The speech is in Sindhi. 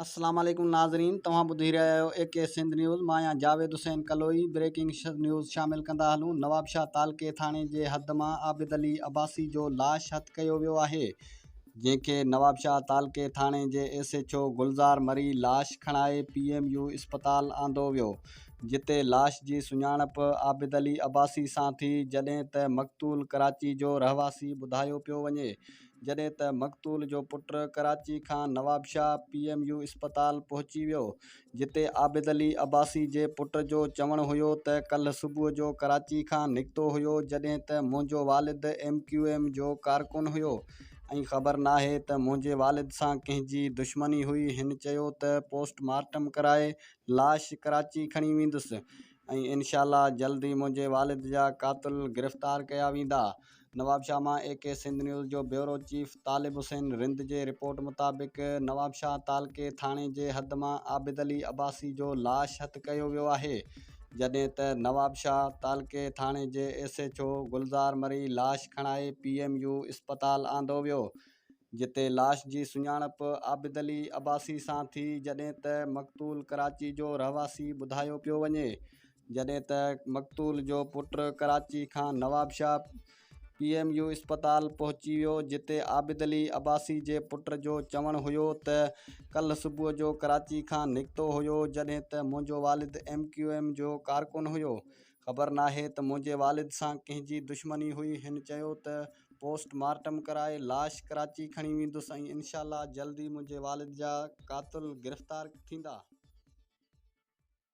السلام عليڪم ناظرين توهان ٻڌي رهيا آهيو اي ڪي سنڌ نيوز مان آهيان جاويد حسين ڪلوئي بريڪنگ نيوز شامل ڪندا هلون نوابشاهه تعلقي ٿاڻي جي حد مان عابد علي عباسي جو لاش هٿ ڪيو ويو آهي جنهن کي نوابشاهه تعلقي ٿاڻي جي S H O Gulzar Marri لاش کڻائي پي ايم يو اسپتال آندو ويو جتي لاش جي سڃاڻپ عابد علي عباسي سان ٿي جڏهن ته مقتول ڪراچي جو رهواسي ٻڌايو پيو وڃي جڏهن ته مقتول جو پٽ ڪراچي کان نوابشاهه پي ايم يو اسپتال پهچي ويو جتي عابد علي عباسي جي پٽ جو چوڻ هيو ته ڪلهه صبح جو ڪراچي کان نڪتو هيو جڏهن ته منهنجو والد ايم ڪيو ايم جو ڪارڪن هيو ۽ خبر ناهي ته منهنجي والد سان ڪنهن جي دشمني هئي هن چيو ته پوسٽ مارٽم ڪرائي لاش ڪراچي کڻي ويندس ۽ انشاء الله جلد ئي منهنجي والد جا قاتل گرفتار ڪيا ويندا. نوابشاهه مان اي ڪي سنڌ نيوز جو بيورو چيف طالب حسين رند جي رپورٽ مطابق نوابشاهه تعلقي ٿاڻي جي حد مان عابد علي عباسي جو لاش هٿ ڪيو ويو آهي جڏهن ته نوابشاهه تعلقي ٿاڻي جي S H O Gulzar Marri لاش کڻائي پي ايم يو اسپتال آندو ويو جتي لاش جي سڃاڻپ عابد علي عباسي سان ٿي جڏهن ته مقتول ڪراچي جو رهواسي ٻڌايو پيو وڃي جڏهن ته مقتول جو پٽ ڪراچي کان نوابشاهه پي ايم يو اسپتال پهچي ويو جتي عابد علي عباسي جي پٽ جو چوڻ هيو ته ڪلهه صبح جو ڪراچي کان نڪتو هيو جڏهن ته منهنجو والد ايم ڪيو ايم جو ڪارڪن هيو خبر ناهي ته منهنجي والد سان ڪنهن جي دشمني هئي، هن چيو ته پوسٽ مارٽم ڪرائي لاش ڪراچي کڻي ويندس ۽ انشاء الله جلد ئي منهنجي والد جا قاتل گرفتار ٿيندا.